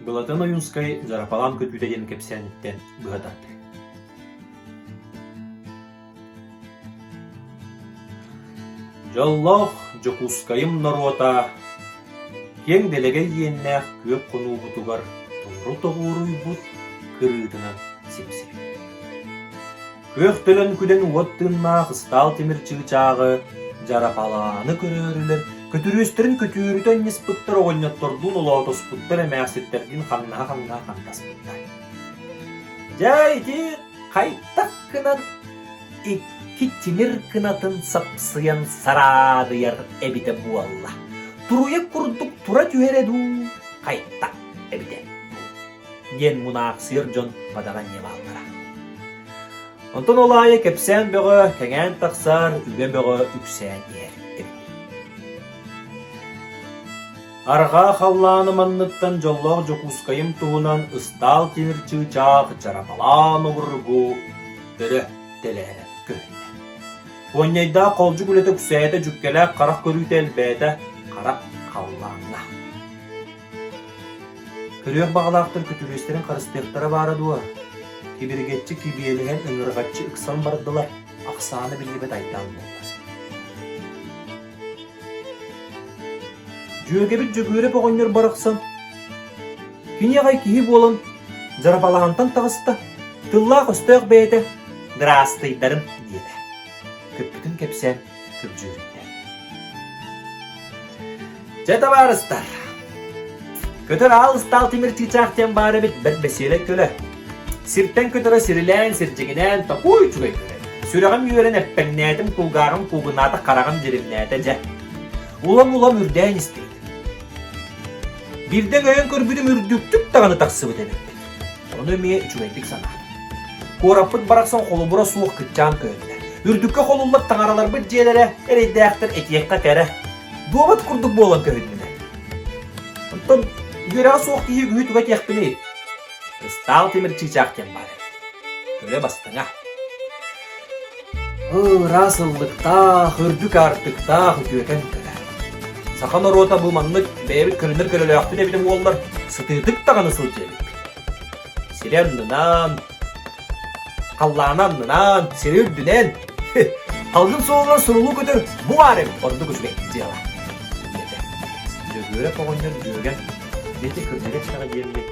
Былатан Ойуунскай Зарапалаан көтүүтэ диэн кэпсээниттэн быһа тардар Дьоллоох Дьокуускайым норуота киэҥ дэлэгэй иэннээх күөх хонуубутугар толору тоҕуоруйбут кырыытынан симсибит Күөх төлөн күдэн уот тыыннаах ыстаал тимир чыычааҕы дьарапалааны көрөөрүлэр көтүрүөстэрин көтүөрүтэ анньыспыттар оҕонньоттордуун олоотоспуттар эмээхситтэрдиин хамнаһа-хамнаһа хамнаспыттар. Дьэ ити хайтах гынан икки тимир кынатын сапсыйан сараадыйар эбитэ буолла. Туруйа курдук тура түһэрэ дуу, хайтах эбитэ. диэн мунаахсыйар дьон бадаҕа инньэ бааллара. Онтон ол аайы кэпсээн бөҕө кэҥээн тахсар, үбэ бөҕө үксээн иһэр эбит. Арҕаа халлааны манныттан дьоллоох Дьокуускайым туһунан ыстаал тимир чыычаах Чарапалаан обургу өрө тэлээрэ көһүннэ. Куонньайдаах холдьук үлэтэ үксээтэ, дьүккэлээх харах көрүүтэ элбээтэ, хара халлааҥҥа. Көрүөх баҕалаахтар күтүрүөстэрин харыстыахтара баара дуо, кибиргэччи кибиэлэһэн ыҥырҕаччы ыксан бардылар, ахсаана биллибэт айдаан буолла. Дьүөгэбит Дьөгүөрэп оҕонньор барахсан кини аҕай киһи буолан дьарбалаантан таҕыста, тыллаах-өстөөх бэйэтэ «Дыраастыйдарым» диэтэ. Көппүтүн кэпсээн Дьэ табаарыстар, көтөр аал ыстаал тимир чыычаах диэн баар эбит бэрт бэсиэрэ көлө. Сиртэн көтөрө сирилээн, сирдьигинээн, такой үчүгэй көлө. Сүрэҕим үөрэн эппэҥнээтим, кулгааҕым куугунаата, хараҕым дьиримнээтэ дьэ. Улам-улам үрдээн истибит. Бирдэ өйөн көрбүтүм үрдүктүк даҕаны тахсыбыт эбиппит. Ону эмиэ үчүгэйдик санаатым. Куораппыт барахсан холобура суох кыччаан көһүннэ. Үрдүккэ холуллар таҥараларбыт дьиэлэрэ эрэйдээхтэр этиэххэ кэрэ. Дуобат курдук буолан көһүннүнэ. Оттон үөрэҕэ суох киһи үгүһү туга этиэхпиний? Кыстаал тимир чыычаах диэн баар. Көрө бастыҥа. Ыраас ыллыктаах, үрдүк аартыктаах үтүөтэн кэлэ. Саха норуота бу маннык бэйэбит көрүнэр көрөлөөхпүт эбитин буоллар, сытыытык даҕаны сылдьыабыппыт. Сири аннынан, халлааны аннынан, сири үрдүнэн, халгын суолугар сурулуу көтөр бу баар эбит ордук үчүгэй дьыала. Диэтэ. Дьөгүөрэп оҕонньор дьүөгэ, дьэти кырдьыга тирэҕэ диэммит,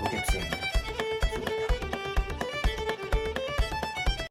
бу кэпсээннэр.